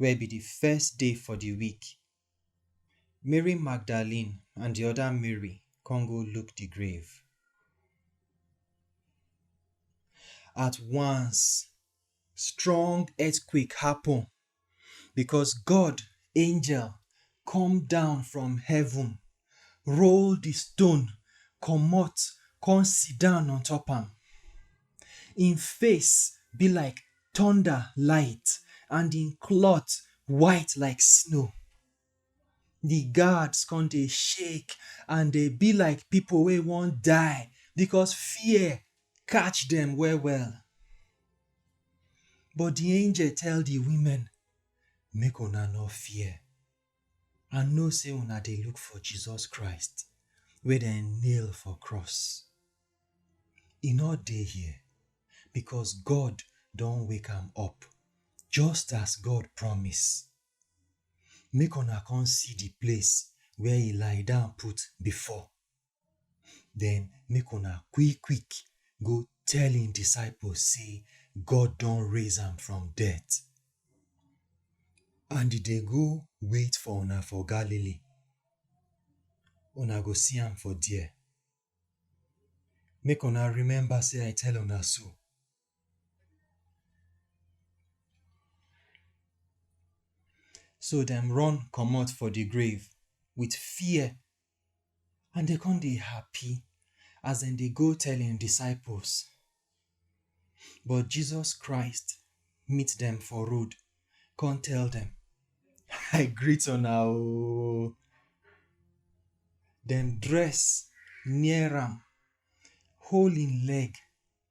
wey be di first day for di week, Mary Magdalene and di oda Mary come go look di grave. At once, strong earthquake happun bicos God angel come down from heaven roll di stone comot come sidon on top am. Im face be like thunder light and im cloth white like snow. Di guards come dey shake and dey be like pipo wey wan die because fear catch dem well well. But di angel tell di women make una no fear. I know say una dey look for Jesus Christ wey dem nail for cross. E no dey here because God don wake am up just as God promise. Make una come see the place where he lie down put before. Den make una quick-quick go tell im disciples sey God don raise am from death. And e dey go wait for una for Galilee, una go see am for there. Make una remember sey I tell una so. So dem run comot for the grave with fear and dem come dey happy as dem dey go tell im disciples. But Jesus Christ meet dem for road, come tell dem, I greet una o. Dem dress near am, hold im leg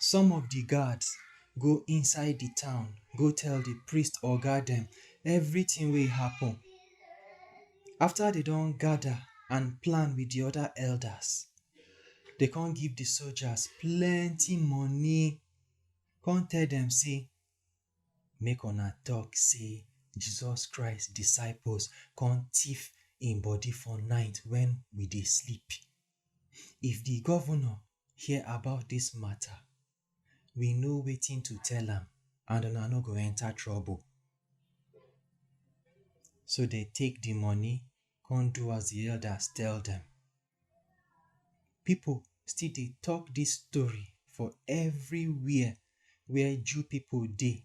Some of di guards go inside di town go tell di priest oga dem everytin wey happen. After dem don gada and plan wit di oda elders, dem come give di soldiers plenty money, come tell dem sey make una tok sey Jesus Christ disciples come tiff im body for night wen we dey sleep. If di governor hear about dis mata, we know wetin to tell am and una no go enter trouble. So dem take di money come do as di elders tell dem. Pipo still dey talk dis story for everywhere where Jew pipo dey.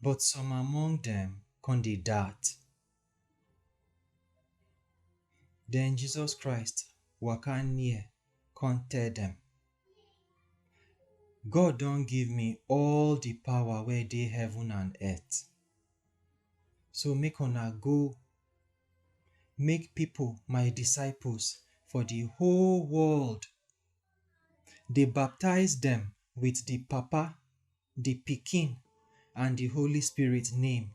But some among dem kon dey doubt. Den Jesus Christ waka near kon tell dem, God don give me all di pawa wey dey heaven and earth, so make una go make pipol my disciples for di whole world, dey baptize dem with di Papa the Pikin, and the Holy Spirit name.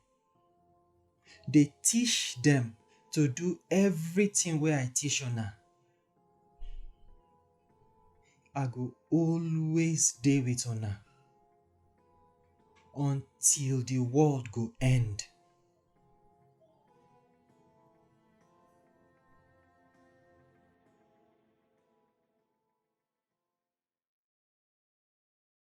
Dey teach dem to do everything wey I teach una. I go always dey with una until the world go end.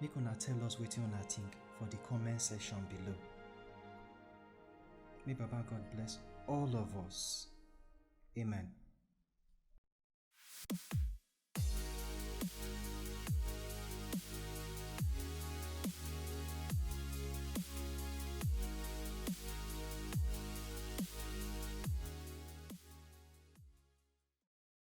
Make una tell us wetin una think for the comment section below. May Baba God bless all of us. Amen.